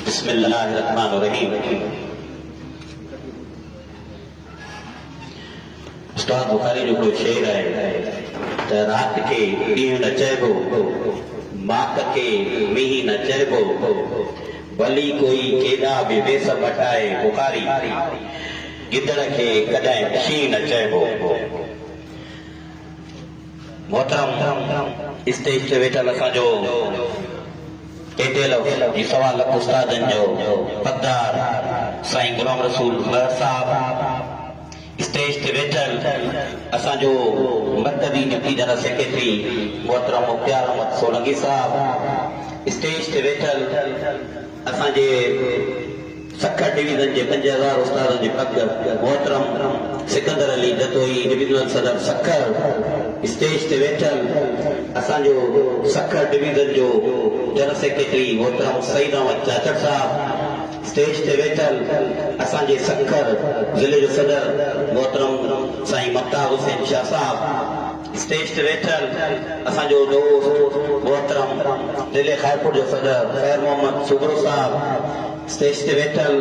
بسم الله الرحمن الرحيم استاد بخاري جو ڪو شعر آهي ته رات کي ڏينهن نه چئبو ماڪ کي مينهن نه چئبو ڀلي ڪوئي ڪيڏا به ويس مٽائي بخاري گدڙ کي ڪڏهن شينهن نه چئبو محترم اسٽيج تي ويٺل اسان جو اي ٽي ايل جي سوا لک استادن جو حقدار سائين غلام رسول مهر صاحب، اسٽيج تي ويٺل اسان جو مرڪزي ڊپٽي جنرل سيڪريٽري محترم مختيار احمد سولنگي صاحب، اسٽيج تي ويٺل. اسان جي سکر ڊويزن جي پنج هزار استادن جي پڳ محترم سڪندر علي جتوئي ڊويزنل صدر سکر اسٽيج تي ويٺل اسان جو سکر ڊويزن جو جنرل سيڪريٽري محترم سعيد احمد چاچڙ صاحب اسٽيج تي ويٺل اسان جي سکر ضلعي جو صدر محترم سائين ممتاز حسين شاهه صاحب اسٽيج تي ويٺل اسان جو دوست محترم ضلعي خيرپور جو صدر خير محمد سومرو صاحب، اسٽيج تي ويٺل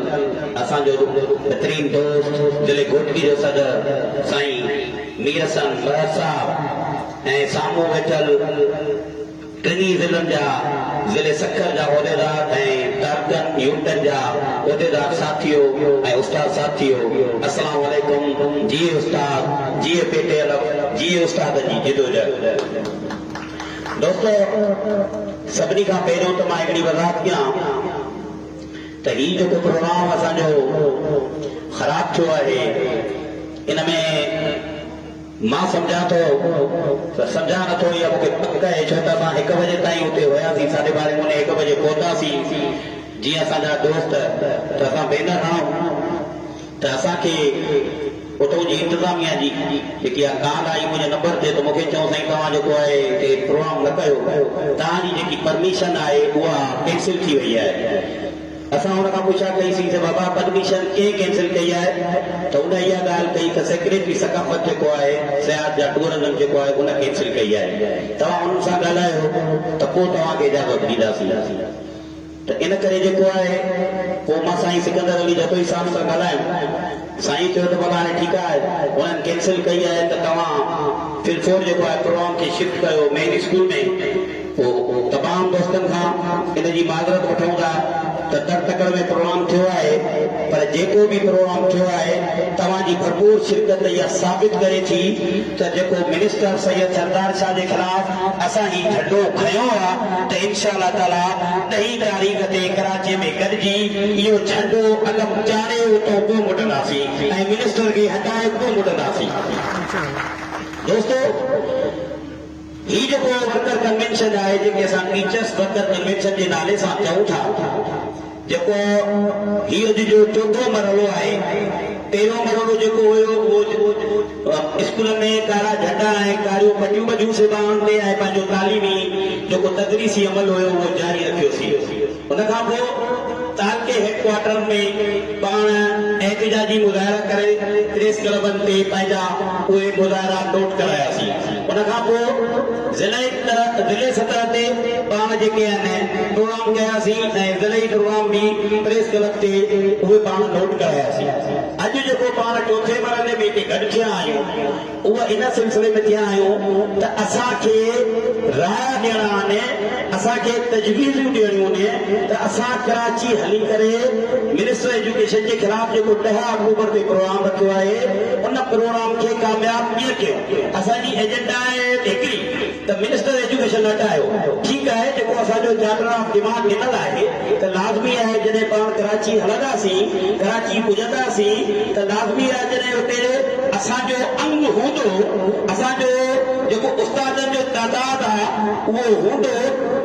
اسان جو بھترين دوست ضلعي گھوٽڪي جو صدر سائين ميرحسن مھر صاحب ۽ سامھون ويٺل. ٽنهي ضلعن جا ضلعي سکر جا عهديدار ۽ ڪارڪن يونٽن جا عهديدار ساٿيو ۽ استاد ساٿيو اسلام عليڪم جيئي استاد جيئي پي ٽي الف جيئي استادن جي جدوجهد دوستو سڀني کان پهريون ته مان هڪڙي وضاحت ڪيان ته هي جيڪو پروگرام اسان جو خراب ٿيو آهي ان ۾ مان سمجهان ٿو ته سمجهان نه ٿو اها مون کي پڪ آهي ڇو ته اسان هڪ بجي تائين اتي هياسين ساڍي ٻارهين پوني هڪ بجي پهتاسين جيئن اسان جا دوست ته اسان بينر هڻئون ته اسان کي اتئون جي انتظاميه جي جيڪي اها ڪال آئي منهنجي نمبر تي ته مون کي چيائون سائين توهان جيڪو آهي هتي پروگرام نه ڪيو توهان جي جيڪي پرميشن آهي اها ڪينسل ٿي وئي آهي. اسان هن کان پڇا ڪئي سين ته بابا پرميشن ڪنهن ڪينسل ڪئي آهي ته هن اها ڳالهه ڪئي ته سيڪريٽري ثقافت جيڪو آهي سياحت جا ٽوئرزم جيڪو آهي ان ڪينسل ڪئي آهي توهان انهن سان ڳالهايو ته پوء توهان کي اجازت ڏينداسين ته ان ڪري جيڪو آهي پوء مان سائين سڪندر علي جتوئي صاحب سان ڳالهايم. سائين چيو ته ڀلا هاڻي ٺيڪ آهي هنن ڪينسل ڪئي آهي ته توهان فلفور جيڪو آهي پروگرام کي شفٽ ڪيو مين اسڪول ۾ پوء تمام دوستن کان ان جي معذرت وٺون ٿا ته تڙ تڪڙ ۾ پروگرام ٿيو آهي پر جيڪو به پروگرام ٿيو آهي توهان جي ڀرپور شرڪت اها ثابت ڪري ٿي ته جيڪو منسٽر سيد سردار شاهه جي خلاف اسان هي جهنڊو کنيو آ ته انشاء الله تعالي ڏهين تاريخ تي ڪراچي ۾ گڏجي اهو جهنڊو اڳم چاڙهي اتون ڪو مٽنداسين ۽ منسٽر کي هٽائي ڪو مٽنداسين دوستو! هي جيڪو ورڪر ڪنوينشن آهي، جنهن کي اسان ٽيچرس ورڪر ڪنوينشن جي نالي سان چئون ٿا، جيڪو هي اڄ جو چوٿون مرحلو آهي، پهريون مرحلو جيڪو هيو اهو اسڪولن ۾ ڪارا جهنڊا ۽ ڪاريون پٽيون ٻڌيون سي ٻانهن تي ۽ پنهنجو تعليمي جيڪو تدريسي عمل هيو اهو جاري رکيوسين. ان کان پوء تعلقي هيڊ ڪوارٽر ۾ پاڻ احتجاجي مظاهرا ڪري پريس ڪلبن تي پنهنجا اهي مظاهرا نوٽ ڪراياسين. ان کان پوء ضلعي ضلعي سطح تي پاڻ جيڪي آهن پروگرام ڪياسين ۽ ضلعي پروگرام به پريس ڪلب تي اهي پاڻ نوٽ ڪراياسين. اڄ جيڪو پاڻ چوٿين مرحلي ۾ هتي گڏ ٿيا آهيون، اهو ان سلسلي ۾ ٿيا آهيون ته اسان کي راء ڏيڻا آهن، اسان کي تجويزون ڏيڻيون آهن ته اسان ڪراچي هلي ڪري منسٽر ايجوڪيشن جي خلاف جيڪو ڏهه آڪٽوبر تي پروگرام رکيو آهي ان پروگرام کي ڪامياب ڪيئن ڪيون، اسان جي ايجنڊا آهي هڪ ئي. ته منسٽر ايجوڪيشن اٽ آيو، ٺيڪ آهي جيڪو اسان جو چارٽر آف ڊيمانڊ ڏنل آهي ته لازمي آهي جڏهن پاڻ ڪراچي هلنداسين، ڪراچي پڄنداسين ته لازمي آهي جڏهن اتي اسان جو انگ هوندو، اسان جو جيڪو استادن جو تعداد آ اهو هوندو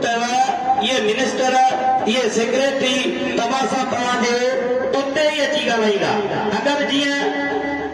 ته اهي منسٽر، اهي سيڪريٽري توهان سان پوهان جي اتي ئي اچي ڳالهائيندا اگر جيئن.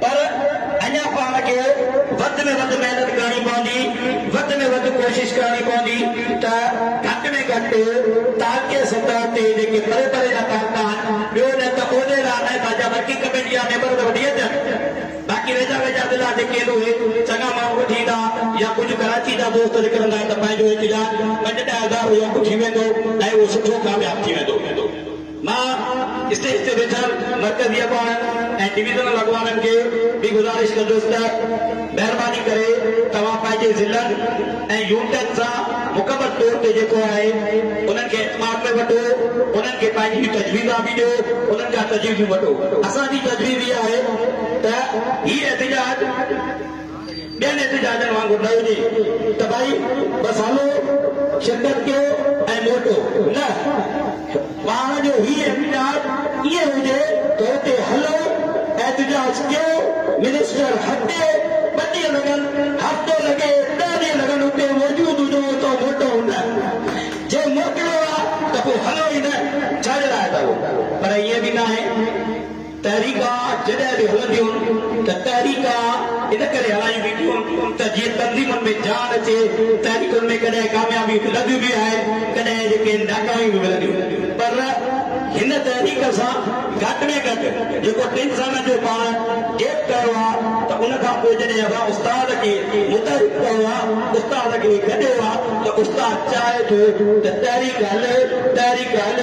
پر اڃا پاڻ کي وڌ ۾ وڌ محنت ڪرڻي پوندي، وڌ ۾ وڌ ڪوشش ڪرڻي پوندي ته گهٽ ۾ گهٽ تعلقي سطح تي جيڪي پري پري جا تعلقا آهن، ٻيو نه ته عهدي لا نه ته جا ورڪنگ ڪميٽي جا ميمبر ته وٺي اچن، باقي ويجها ويجها ضلعا جيڪي آهن اهي چڱا ماڻهو وٺي ايندا يا ڪجهه ڪراچي جا دوست لڪل هوندا ته پنهنجو احتجاج پنج ڏهه هزار هو اهو ٿي ويندو ۽ اهو سٺو ڪامياب ٿي ويندو. مان اسٽيج تي ويٺل مرڪزي اڳواڻن ۽ ڊويزنل اڳواڻن کي به گذارش ڪندس ته مهرباني ڪري توهان پنهنجي ضلعن ۽ يونٽن سان مڪمل طور تي جيڪو آهي انهن کي اعتماد ۾ وٺو انهن کي پنهنجيون تجويزا به ڏيو انهن کان تجويزون وٺو اسان جي تجويز اها آهي ته هي احتجاج ٻين احتجاجن وانگر نه هجي ته ڀائي بس هلو شرڪت ڪيو ۽ موٽو نه پاڻ جو هي احتجاج ائين هجي ته اتي هلو احتجاج ڪيو منسٽر هتي ٻه ڏينهن لڳن هفتو لڳي ڏهه ڏينهن لڳن اتي موجود هجو اتو موٽو نه جي موڪليو آ ته پوء هلو ئي نه ڇا جي لاء ته پر ائين به ناهي. تحريڪا جڏهن به هلنديون ته تحريڪا ان ڪري هلايون وينديون ته جيئن تنظيمن ۾ جان اچي، تحريڪن ۾ ڪڏهن ڪاميابيون ملنديون به آهن ڪڏهن جيڪي ناڪاميون به ملنديون پر هن تحريڪ سان گهٽ ۾ گهٽ جيڪو ٽن سالن جو پاڻ گيپ ڪيو آهي ته ان کان پوء جڏهن اسان استاد کي متحرڪ ڪيو آهي استاد کي گڏيو آهي ته استاد چاهي ٿو ته تحريڪ هلي تحريڪ هلي.